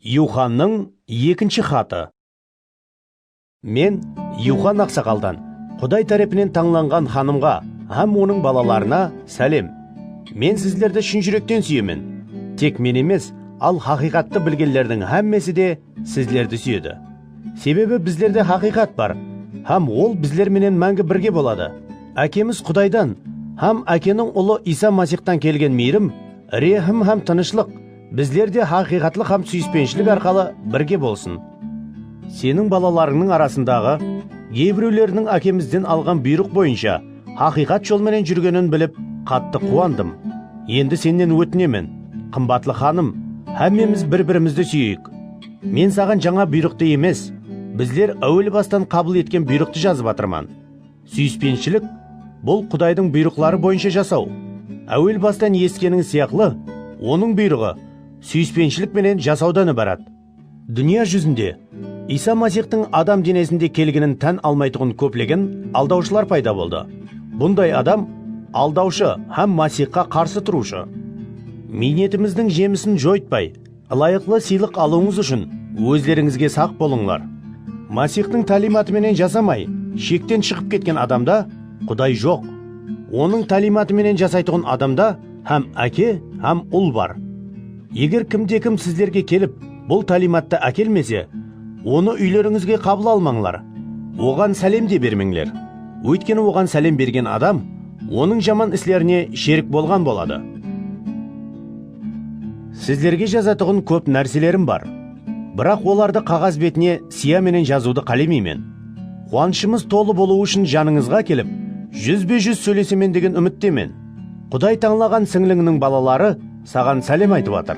Yuxannıń ekinshi xatı. Men Yuxan aqsaqaldan, Quday tárepinen tańlanǵan xanımǵa hám onıń balalarına sálem. Men sizlerdi shın júrekten súyemen. Tek men emes, al haqıyqattı bilgenlerdiń hámmesi de sizlerdi súyedi. Sebebi bizlerde haqıyqat bar, hám ol bizler menen máńgi birge boladı. Ákemiz Qudaydan hám Ákeniń Ulı Iysa Masixtan kelgen miyrim, rehim hám tınıshlıq, Bizler de haqıyqatlıq hám súyispenishilik arqalı birge bolsın. Seniń balalarıńnıń arasındaǵı geybirewleriniń Ákemizden alǵan buyrıq boyınsha haqıyqat jol menen júrgenin bilip, qattı quwandım. Endi Sennen ótinemen, qımbatlı xanım, hámmemiz bir-birimizdi súyeyik. Men Saǵan jańa buyrıqtı emes, bizler áwel bastan qabıl etken buyrıqtı jazıp atırman. Súyispenshilik, bul Qudaydıń buyrıqları boyınsha jasaw. Áwel bastan esitkenińiz sıyaqlı, Onıń buyrıǵı súyispenshilik menen jasawdan ibarat. Dúnya júzinde Iysa Masixtıń adam denesinde kelginin tán almaytuǵın kóplegen aldawshılar payda boldı. Bunday adam aldawshı hám Masixqa qarsı turıwshı. Miynetimizdiń jemisin joytpay, Ilayıqlı sıylıq alıwıńız ushın ózlerińizge saq bolıńlar. Masixtıń táliymatı menen jasamay, shekten shıǵıp ketken adamda Quday joq. Onıń táliymatı menen jasaytuǵın adamda hám Áke, hám Ul bar. Eger kimde-kim sizlerge kelip, bul táliymattı ákelmese, onı úylerińizge qabıl almańlar, oǵan sálem de bermeńler. Óytkeni oǵan sálem bergen adam Onıń jaman islerine sherik bolǵan boladı. Sizlerge jazatuǵın kóp nárselerim bar. Biraq olardı qaǵaz betine siya menen jazıwdı qálemeymen. Quwanıshımız tolı bolıwı ushın janıńızǵa kelip, júzbe-júz sóylesemen degen úmittemen. Quday tańlaǵan sińlińniń balaları saǵan sálem aytıp atır.